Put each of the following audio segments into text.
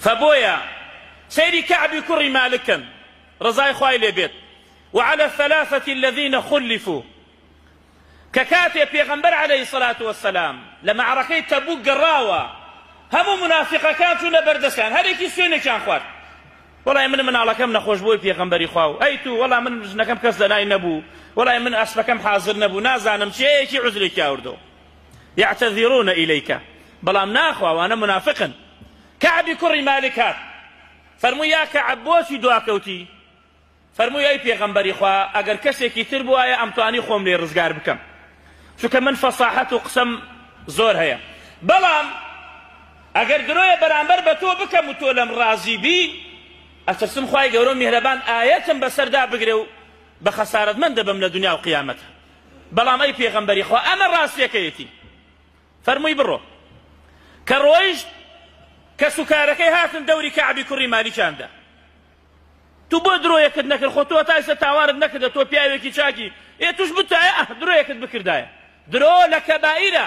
فە بۆیە سەیری کەعبی کوڕی مالک کەن ڕەزای خوای لێ بێت وعلى الثلاثة الذين خلفوا کە کاتێ پێغەمبەر عەلەیهی سەلات وەسەلام لە مەعرەکەی تەبوک گەڕاوە هەموو منافقەکان چوونە بەردەستیان هەرێکی سوێنێکیان خوارد وەڵای من مناڵەکەم نەخۆش بۆی پێغەمبەری خوا و ئەی تو وەڵا من ژنەکەم کەس لەلای نەبوو وەڵای من ئەسپەکەم حازر نەبوو نازانم چێیەکی عزرێکی ئاوردەوە یعتذرون الیک بەڵام ناخوا ئەوانە منافقن کەعبی کوڕی مالک هات فەرمووی یا کەعب بۆچی دواکەوتی فەرمووی ئەی پێغەمبەری خوا ئەگەر کەسێکی تر بوایە ئەمتوانی خۆم لێ ڕزگار بکەم چونکە من فەساحەت و قسەم زۆر هەیە بەڵام ئەگەر درۆیە بەرامبەر بە تۆ بکەم و تۆ لەم ڕازی بی ئەترسم خوای گەورە و میهرەبان ئایەتم بەسەردا بگرێ و بە خەسارەتمەند دەبم لە دنیا و قیامەت بەڵام ئەی پێغەمبەری خوا ئەمە ڕاستیەکەیەتی فەرمووی بڕۆ کە ڕۆیشت کەس و کارەکەی هاتن دەوری کەعبی کوڕی مالیکیاندا تو بۆ درۆیەکت نەکرد خۆ تۆ تایسە تاوارت نەکردە تۆ پیاوێکی چاکی ئێ توش بتایە ئەه درۆیەکت بکردایە درۆ لە کەبائیرە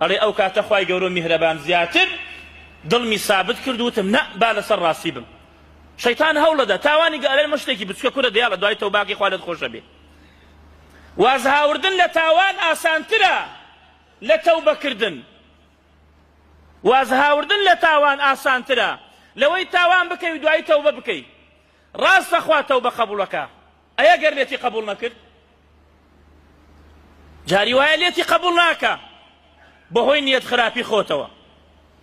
ئەڵێ ئەو کاتە خوای گەورە و میهرەبان زیاتر دڵمی سابت کرد وتم نە با لەسەر ڕاستی بم شەیتان هەوڵەدا تاوانی گەلێ مە شتێکی بچکە کورە دیا لە دوای تەوباکەی خوا لێت خۆشە بێ وازهاوردن لە تاوان ئاسانترە لە تەوبەکردن وازهاوردن لە تاوان ئاسانترە لەوەی تاوان بکەی و دوای تەوبە بکەی ڕاستە خوا تەوبە قەبوڵەکە ئەیە گەر لێتی قبول نەکرد جاری وایە لێتی قبول ناکا بەهۆی نیەت خراپی خۆتەوە.